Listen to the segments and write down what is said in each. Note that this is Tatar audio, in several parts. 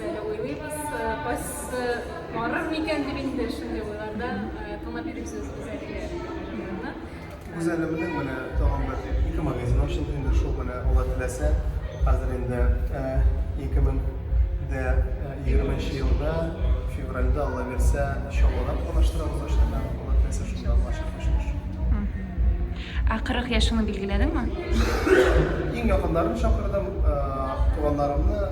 Әле уйлыйбыз, кайсысы барыр микән дип инде шундый уйларда тыңлап йөрибез үзебезгә. Гүзәлемнең менә тагын бер ике магазин ачылды инде шул менә Алла теләсә, хәзер инде 2020 елда февральдә Алла бирсә Чаллыда планлаштырабыз эшләрне, Алла теләсә шунда булачак эшләр. Ә 40 яшеңне билгеләдеңме? Иң якыннарым чакырдым, туганнарымны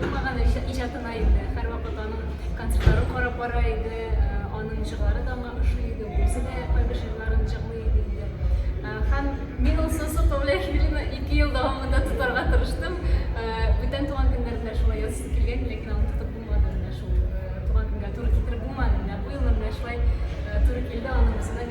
Булмаган иҗатына инде. Һәрвакыт аның концертларын карап бара иде. Аның җырлары да аңа ошый иде. Үзе дә кайбер җырларын җырлый иде инде. Һәм мин ул Сосо Павлияшвилине ике ел дәвамында тотарга тырыштым. Бүтән туган көннәрендә шулай язып килгән, ләкин аны тотып булмады менә шул. Туган көнгә туры китереп булмады. Менә бу ел менә шулай туры килде аның үзенә.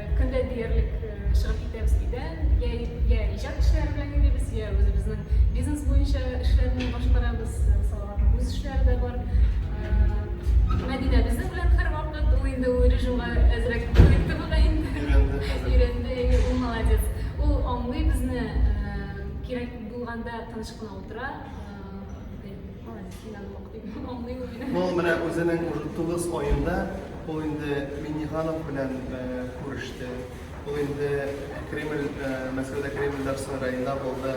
Көн дә диярлек чыгып китәбез өйдән, йә, йә иҗат эшләре белән йөрибез, йә үзебезнең бизнес буенча эшләрне башкарабыз, Салаватның үз эшләре дә бар. Мәдинә безнең белән һәрвакыт, ул инде ул режимга әзрәк күнекте бугай инде. Өйрәнде, әйе, ул молодец. Ул аңлый безне, кирәк булганда тыныч кына утыра. Ул менә үзенең уже тугыз айында ул инде Минниханов белән э, күреште. Ул инде Кремль, э, Мәскәүдә Кремль Дарсу районында булды.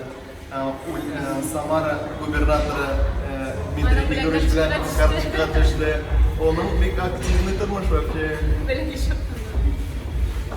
Э, э, Самара губернаторы э, Дмитрий Федорович белән карточка төште. Оның бик активный тормыш вообще. Белгеч